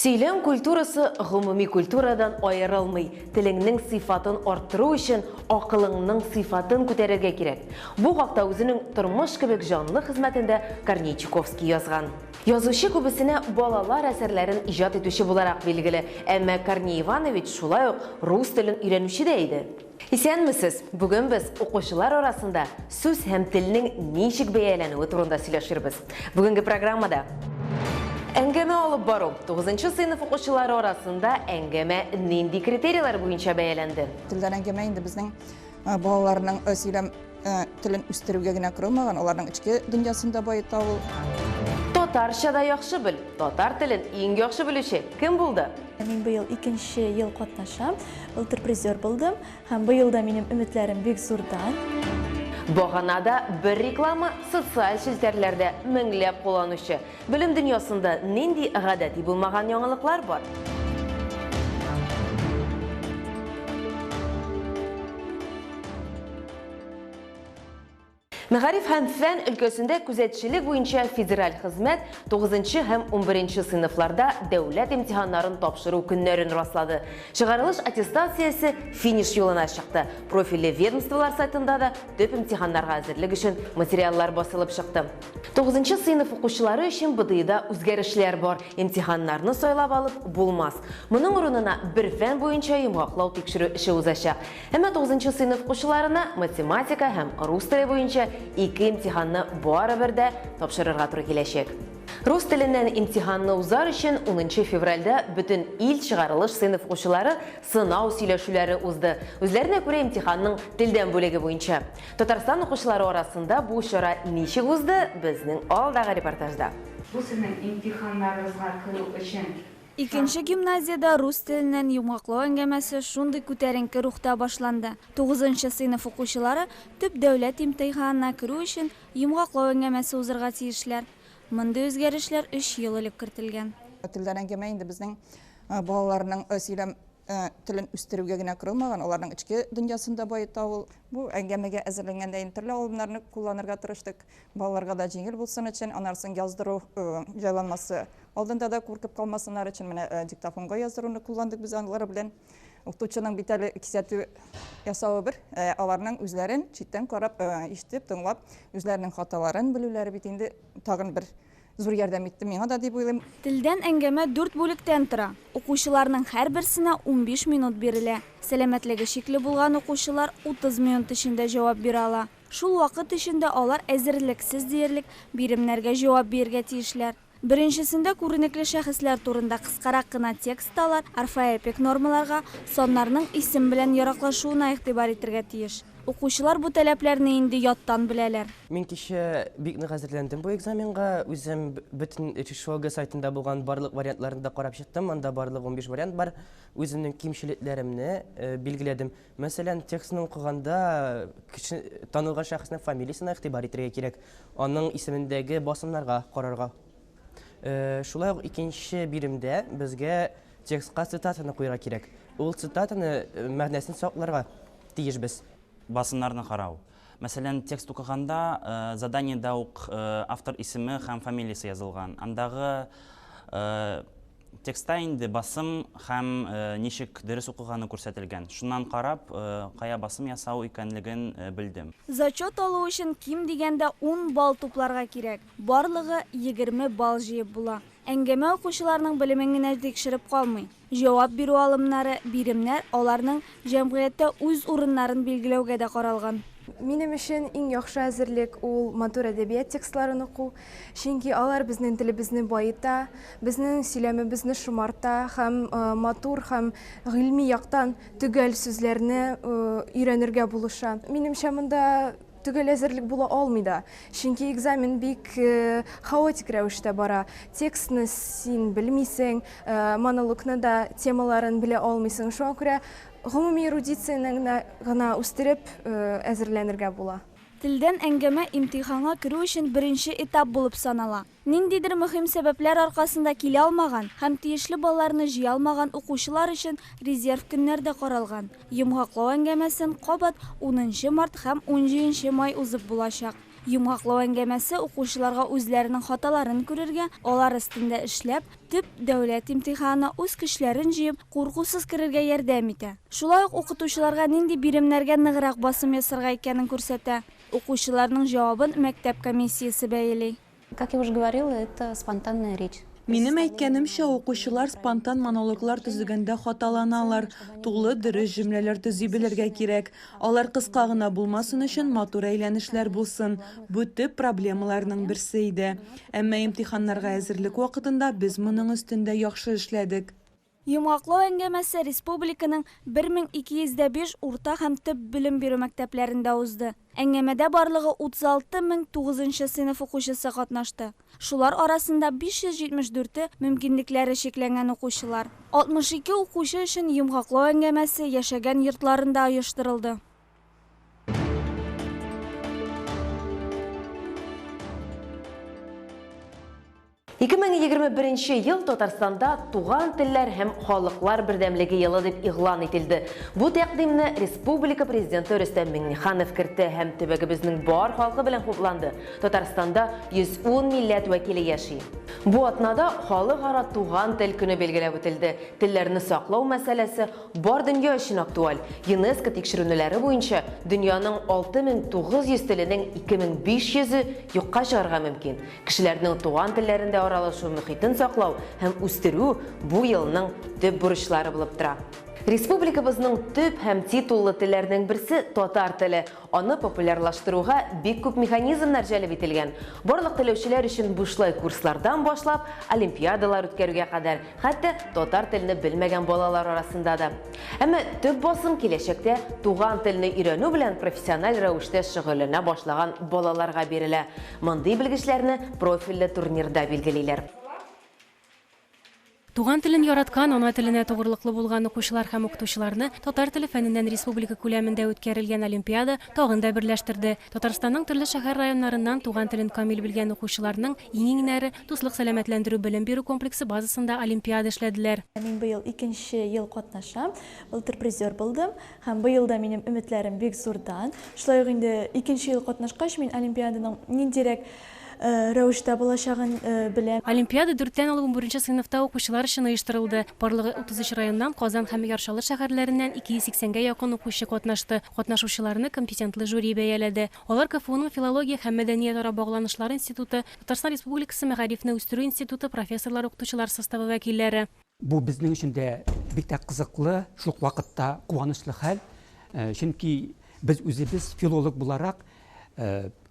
Сөйләм культурасы гомуми культурадан аерылмый. Телеңнең сыйфатын арттыру өчен акылыңның сыйфатын күтәрергә кирәк. Бу хакта үзенең Тормыш кебек җанлы хезмәтендә Корней Чуковский язган. Язучы күбесенә балалар әсәрләрен иҗат итүче буларак билгеле, әмма Корней Иванович шулай ук рус телен өйрәнүче дә иде. Исәнмесез! Бүген без укучылар арасында сүз һәм телнең ничек бәяләнүе турында сөйләшербез. Бүгенге программада. Әңгәмә алып бару. Тугызынчы сыйныф укучылары арасында әңгәмә нинди критерийлар буенча бәяләнде? Телдән әңгәмә инде безнең балаларның сөйләм Ә, телен үстерүгә генә корылмаган, аларның эчке дөньясын да баета ул. Татарча да яхшы бел. Татар телен иң яхшы белүче кем булды? Мин быел икенче ел катнашам. Былтыр призер булдым һәм быел да минем өметләрем бик зурдан. Баганада бер реклама социаль челтәрләрдә меңләп кулланучы Белем дөньясында нинди гадәти булмаган яңалыклар бар? Мәгариф һәм фән өлкәсендә күзәтчелек буенча федераль хезмәт 9 һәм 11 сыйныфларда дәүләт имтиханнарын тапшыру көннәрен раслады. Чыгарылыш аттестациясе финиш юлына чыкты. Профильле ведомстволар сайтында да төп имтиханнарга әзерлек өчен материаллар басылып чыкты. Тугызынчы сыйныф укучылары өчен БДИда үзгәрешләр бар, имтиханнарны сайлап алып булмас. Моның урынына бер фән буенча йомгаклау тикшерү эше узачак. Әмма тугызынчы сыйныф укучыларына математика һәм рус теле буенча ике имтиханны барыбер дә тапшырырга туры киләчәк. Рус теленнән имтиханны узар өчен унынчы февральдә бөтен ил чыгарылыш сыйныф укучылары сынау сөйләшүләре узды, үзләренә күрә имтиханның телдән бүлеге буенча. Татарстан укучылары арасында бу чара ничек узды, безнең алдагы репортажда. Бу сезнең имтиханнарыгызга керү өчен шанс. Икенче гимназиядә рус теленнән йомгаклау әңгәмәсе шундый күтәренке рухта башланды, тугызынчы сыйныф укучылары төп дәүләт имтыйханына керү өчен йомгаклау әңгәмәсе узырга тиешләр. Мондый үзгәрешләр өч ел элек кертелгән. Телдән әңгәмә инде безнең балаларның сөйләм Э, телен үстерүгә генә корылмаган, аларның эчке дөньясын да баета ул. Бу әңгәмәгә әзерләнгәндә инде төрле алымнарны кулланырга тырыштык. Балаларга да җиңел булсын өчен, анарсын яздыру э, җайланмасы алдында да куркып калмасыннар өчен менә э, диктофонга яздыруны кулландык без алар белән. Укытучының бит әле кисәтү ясавы бер, аларның үзләрен читтән карап, ишетеп, тыңлап, үзләренең хаталарын белүләре бит инде тагын бер зур ярдәм итте миңа да дип уйлыйм. Телдән әңгәмә дүрт бүлектән тора. Укучыларның һәрберсенә унбиш минут бирелә. Сәламәтлеге шикле булган укучылар утыз минут эчендә җавап бирә ала. Шул вакыт эчендә алар әзерлексез диярлек биремнәргә җавап биергә тиешләр. Беренчесендә күренекле шәхесләр турында кыскарак кына текст алар орфоэпик нормаларга, саннарның исем белән яраклашуына игътибар итергә тиеш. Укучылар бу таләпләрне инде яттан беләләр. Мин кичә бик нык әзерләндем бу экзаменга. Үзем бөтен РИШОГО сайтында булган барлык вариантларны да карап чыктым. Анда барлык унбиш вариант бар. Үземнең кимчелекләремне билгеләдем. Мәсәлән, текстны укыганда кеше, танылган шәхеснең фамилиясенә игътибар итәргә кирәк, аның исемендәге басымнарга карарга. Шулай ук икенче биремдә безгә Текстка цитатаны куярга кирәк. Ул цитатаны мәгънәсен сакларга тиешбез. Басымнарны карау. Мәсәлән, текст укыганда заданиедә үк автор исеме һәм фамилиясе язылган. Андагы текстта инде басым һәм ничек дөрес укыганы күрсәтелгән. Шуннан карап, кая басым ясау икәнлеген белдем. Зачет алу өчен ким дигәндә ун балл тупларга кирәк. Барлыгы егерме балл җыеп була. Әңгәмә укучыларның белемен генә тикшереп калмый. Җавап бирү алымнары, биремнәр аларның җәмгыятьтә үз урыннарын билгеләүгә дә каралган. Минем өчен иң яхшы әзерлек ул матур әдәбият текстларын уку, чөнки алар безнең телебезне баета, безнең сөйләмебезне шомарта һәм матур һәм гыйльми яктан төгәл сүзләрне өйрәнергә булыша. Минемчә, монда Төгәл әзерлек була алмый да, чөнки экзамен бик хаотик рәвештә бара. Текстны син белмисең, монологны да, темаларын белә алмыйсың. Шуңа күрә гомуми эрудицияне гына үстереп әзерләнергә була. Телдән әңгәмә имтиханга керү өчен беренче этап булып санала. Ниндидер мөһим сәбәпләр аркасында килә алмаган һәм тиешле балларны җыя алмаган укучылар өчен резерв көннәр дә каралган. Йомгаклау әңгәмәсен кабат унынчы март һәм унҗиенче май узып булачак. Йомгаклау әңгәмәсе укучыларга үзләренең хаталарын күрергә, алар өстендә эшләп, төп дәүләт имтиханына үз көчләрен җыеп, куркусыз керергә ярдәм итә. Шулай ук укытучыларга нинди биремнәргә ныграк басым ясарга икәнен күрсәтә. Укучыларның җавабын мәктәп комиссиясе бәяли. Как я уже говорила, это спонтанная речь. Минем әйткәнемчә, укучылар спонтан монологлар төзегәндә хаталаналар. Тулы, дөрес җөмләләр төзи белергә кирәк. Алар кыска гына булмасын өчен, матур әйләнешләр булсын. Бу төп проблемаларның берсе иде. Әмма имтиханнарга әзерлек вакытында без моның өстендә яхшы эшләдек. Йомгаклау әңгәмәсе республиканың 1205 урта һәм төп белем бирү мәктәпләрендә узды. Әңгәмәдә барлыгы 36 мең тугызынчы сыйныф укучысы катнашты. Шулар арасында 574-е, мөмкинлекләре чикләнгән укучылар. 62 укучы өчен йомгаклау әңгәмәсе яшәгән йортларында оештырылды. 2021 нче ел Татарстанда Туган телләр һәм халыклар бердәмлеге елы дип игълан ителде. Бу тәкъдимне республика Президенты Рөстәм Миңнеханов кертте һәм төбәгебезнең бар халкы белән хупланды. Татарстанда 110 милләт вәкиле яши. Бу атнада Халыкара туган тел көне билгеләп үтелде. Телләрне саклау мәсьәләсе бар дөнья өчен актуаль. ЮНЕСКО тикшеренүләре буенча, дөньяның 6900 теленең 2500-е юкка чыгарга мөмкин. Кешеләрнең туган телләрендә аралашу мөхитен саклау һәм үстерү бу елның төп бурычлары булып тора. Республикабызның төп һәм титуллы телләрнең берсе татар теле, аны популярлаштыруга бик күп механизмнар җәлеп ителгән. Барлык теләүчеләр өчен бушлай курслардан башлап, олимпиадалар үткәрүгә кадәр, Хәтта татар телне белмәгән балалар арасында да. Әмма төп басым киләчәктә туган телне өйрәнү белән профессиональ рәвештә шөгыльләнә башлаган балаларга бирелә. Мондый белгечләрне профильле турнирда билгелиләр. Туган телен яраткан, ана теленә тугрылыклы булган укучылар һәм укытучыларны татар теле фәненнән республика күләмендә үткәрелгән олимпиада тагын да берләштерде. Татарстанның төрле шәһәр районнарыннан туган телен камил белгән укучыларның иңиңнәре Дуслык сәламәтләндерү белем бирү комплексы базасында олимпиада эшләделәр. Мин быел икенче ел катнашам. Былтыр призер булдым. Һәм быел да минем өметләрем бик зурдан. Шулай ук инде икенче ел катнашкач, мин олимпиаданың ниндирәк рәвештә булачагын белә. Олимпиада дүрттән алып унберенче сыйныфта укучылар өчен оештырылды. Барлыгы 33 районнан, Казан һәм Яр Чаллы шәһәрләреннән 280 гә якын укучы катнашты. Катнашучыларны компетентлы жюри бәяләде. Алар КФУның филология һәм мәдәниятара багланышлар институты, Татарстан Республикасы мәгарифне үстерү институты профессорлар-укытучылар составы вәкилләре, Бу безнең өчен дә бик тә кызыклы, шул ук вакытта куанычлы хәл. Чөнки без үзебез филолог буларак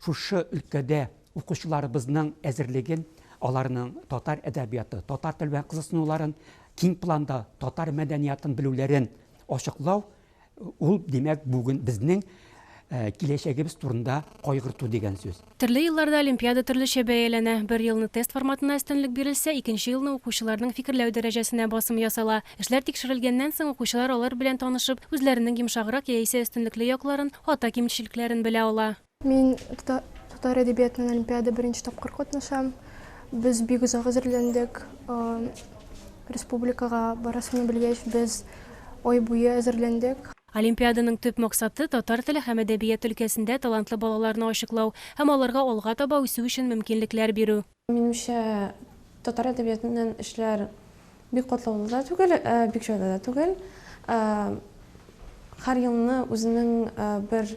шушы өлкәдә укучыларыбызның әзерлеген, аларның татар әдәбияты, татар теле белән кызыксынуларын, киң планда татар мәдәниятын белүләрен ачыклау, Ул, димәк, бүген безнең киләчәгебез турында кайгырту дигән сүз. Төрле елларда олимпиада төрлечә бәяләнә. Бер елны тест форматына өстенлек бирелсә, икенче елны укучыларның фикерләү дәрәҗәсенә басым ясала. Эшләр тикшерелгәннән соң, укучылар алар белән танышып, үзләренең йомшаграк яисә өстенлекле якларын, хата-кимчелекләрен белә ала. Мин татар әдәбиятыннан олимпиада беренче тапкыр катнашам. Без бик озак әзерләндек. Республикага барасымны белгәч, без ай буе әзерләндек. Олимпиаданың төп максаты, татар теле һәм әдәбият өлкәсендә талантлы балаларны ачыклау һәм аларга алга таба үсү өчен мөмкинлекләр бирү. Минемчә, татар әдәбиятыннан эшләр бик катлаулы да түгел, бик җайлы да түгел. Һәр елны үзенең бер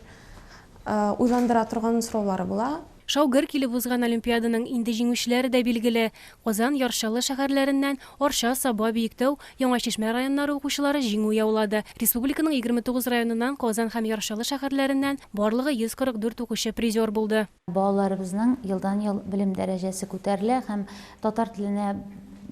уйландыра торган сораулары була. Шау-гөр килеп узган олимпиаданың инде җиңүчеләре дә билгеле. Казан, Яр Чаллы шәһәрләреннән Арча, Саба, Биектау, Яңа Чишмә районнары укучылары җиңү яулады. Республиканың 29 районыннан, Казан һәм Яр Чаллы шәһәрләреннән барлыгы 144 укучы призер булды. Балаларыбызның елдан-ел белем дәрәҗәсе күтәрелә һәм татар теленә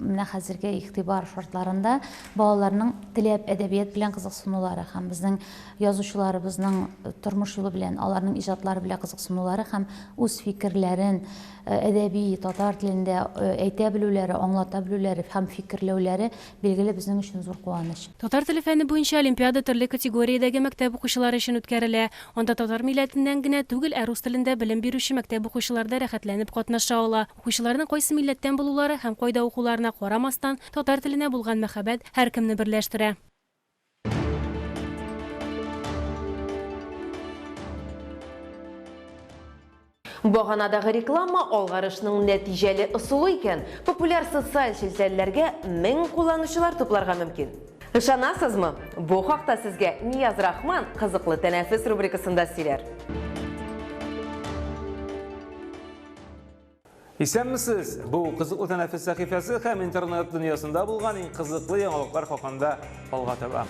менә хәзерге игътибар шартларында балаларның теләп әдәбият белән кызыксынулары һәм безнең язучыларыбызның тормыш юлы белән, аларның иҗатлары белән кызыксынулары һәм үз фикерләрен әдәби татар телендә әйтә белүләре, аңлата белүләре һәм фикерләүләре билгеле, безнең өчен зур куаныч. Татар теле фәне буенча олимпиада төрле категориядәге мәктәп укучылары өчен үткәрелә. Анда татар милләтеннән генә түгел, ә рус телендә белем бирүче мәктәп укучылары да рәхәтләнеп катнаша ала. Укучыларның кайсы милләттән булулары һәм кайда укуларына карамастан, татар теленә булган мәхәббәт һәркемне берләштерә. Баганадагы реклама алгарышның нәтиҗәле ысулы икән, популяр социаль челтәрләргә мең кулланучылар тупларга мөмкин. Ышанасызмы? Бу хакта сезгә Нияз Рахман кызыклы тәнәфес рубрикасында сөйләр. Исәнмесез! Бу кызыклы тәнәфес сәхифәсе һәм интернет дөньясында булган иң кызыклы яңалыклар хакында алга таба.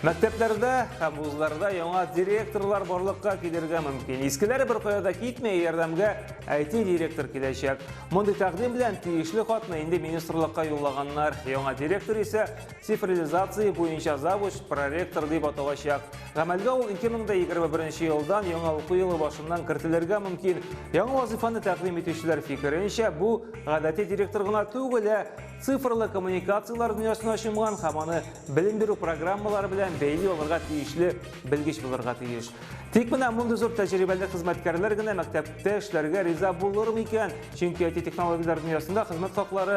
Мәктәпләрдә һәм вузларда яңа директорлар барлыкка килергә мөмкин. Искеләре бер кая да китми, ярдәмгә IT директор киләчәк. Мондый тәкъдим белән тиешле хатны инде министрлыкка юллаганнар. Яңа директор исә Цифрилизация буенча завуч проректор дип аталачак. Гамәлгә ул 2021 елдан яңа уку елы башыннан кертелергә мөмкин. Яңа вазифаны тәкъдим итүчеләр фикеренчә, бу гадәти директор гына түгел, ә цифрлы коммуникацияләр дөньясына чумган һәм аны белем бирү программалары белән бәйли алырга тиешле белгеч булырга тиеш. Тик менә мондый зур тәҗрибәле хезмәткәрләр генә мәктәптә эшләргә риза булыр микән? Чөнки IT технологияләр дөньясында хезмәт хаклары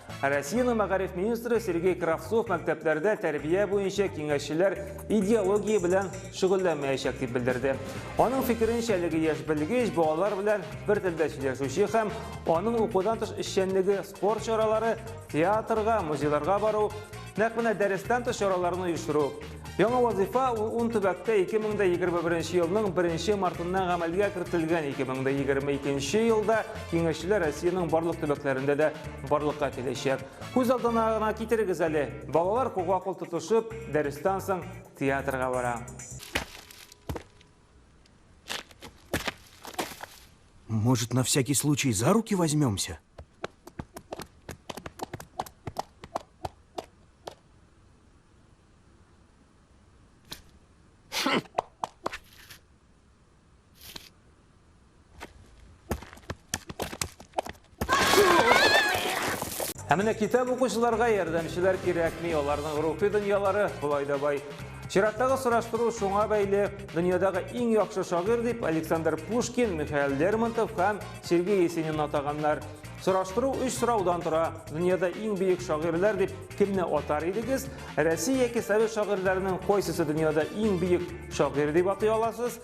Россиянең мәгариф министры Сергей Кравцов мәктәпләрдә тәрбия буенча киңәшчеләр идеология белән шөгыльләнмәячәк дип белдерде. Аның фикеренчә, әлеге яшь белгеч балалар белән бер телдә сөйләшүче һәм аның укудан тыш эшчәнлеге, спорт чаралары, театрга, музейларга бару, нәкъ менә дәрестән тыш чараларны оештыру, Яңа вазифа ул ун төбәктә 2021 елның 1 мартыннан гамәлгә кертелгән. 2022 елда киңәшчеләр Россиянең барлык төбәкләрендә дә барлыкка киләчәк. Күз алдына гына китерегез әле. Балалар кулга-кул тотышып, дәрестән соң театрга бара. Может, на всякий случай за руки возьмемся? Ә менә китап укучыларга ярдәмчеләр кирәкми, аларның рухи дөньялары болай да бай. Чираттагы сораштыру шуңа бәйле, дөньядагы иң яхшы шагыйрь дип Александр Пушкин, Михаил Лермонтов һәм Сергей Есенин атаганнар. Сораштыру өч сораудан тора. Дөньяда иң бөек шагыйрьләр дип Кемне атар идегез? Россия яки совет шагыйрьләренең кайсысы дөньяда иң бөек шагыйрь дип атый аласыз?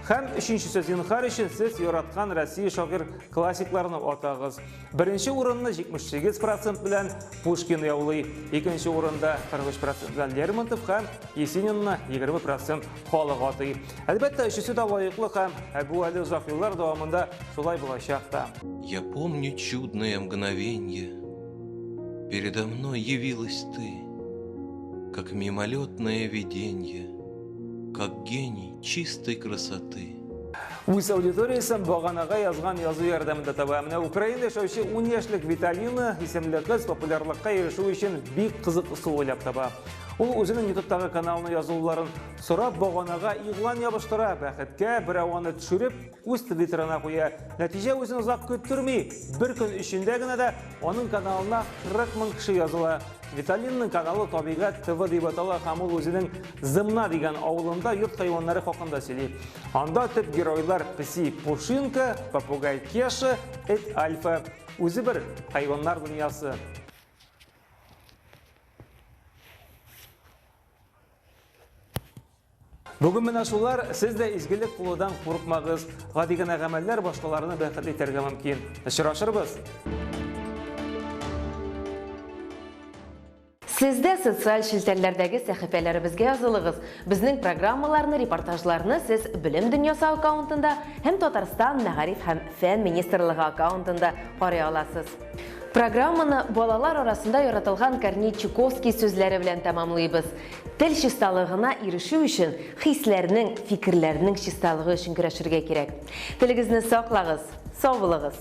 Һәм өченчесе зинхар өчен сез яраткан Россия шагыйрь классикларны атагыз. Беренче урынны 78% белән Пушкин яулый, икенче урында 43% белән Лермонтов һәм Есенинны 20% халык атый. Әлбәттә, өчесе дә лаеклы һәм бу әле озак еллар дәвамында шулай булачак та. Я помню чудное мгновенье Передо мной явилась ты, Как мимолетное виденье, Как гений чистой красоты. Үз аудиториясен баганага язган язу ярдәмендә таба. Менә Украина яшәүче 10 яшьлек Виталина исемле кыз популярлыкка ирешү өчен бик кызык ысул уйлап таба. Ул үзенең ютубтагы каналына язуларын сорап баганага игълан ябыштыра. Бәхеткә берәү аны төшереп, үз твиттерына куя. Нәтиҗә үзен озак көттерми. Бер көн эчендә генә дә аның каналына 40 мең кеше языла. Виталинның каналы Табигать ТВ дип атала һәм ул үзенең Зымна дигән авылында йорт хайваннары хакында сөйли. Анда төп геройлар песи Пушинка, попугай Кеша, эт Альфа. Үзе бер хайваннар дөньясы. Бүген менә шулар, сез дә изгелек кулудан курыкмагыз. Гади генә гамәлләр башкаларны бәхет итәргә мөмкин. Очрашырбыз. Сез дә социаль челтәрләрдәге сәхифәләребезгә язылыгыз. Безнең программаларны, репортажларны сез Белем дөньясы аккаунтында һәм Татарстан Мәгариф һәм фән министрлыгы аккаунтында карый аласыз. Программаны балалар арасында яратылган Корней Чуковский сүзләре белән тәмамлыйбыз. Тел чисталыгына ирешү өчен хисләрнең, фикерләрнең чисталыгы өчен көрәшергә кирәк. Телегезне саклагыз, сау булыгыз!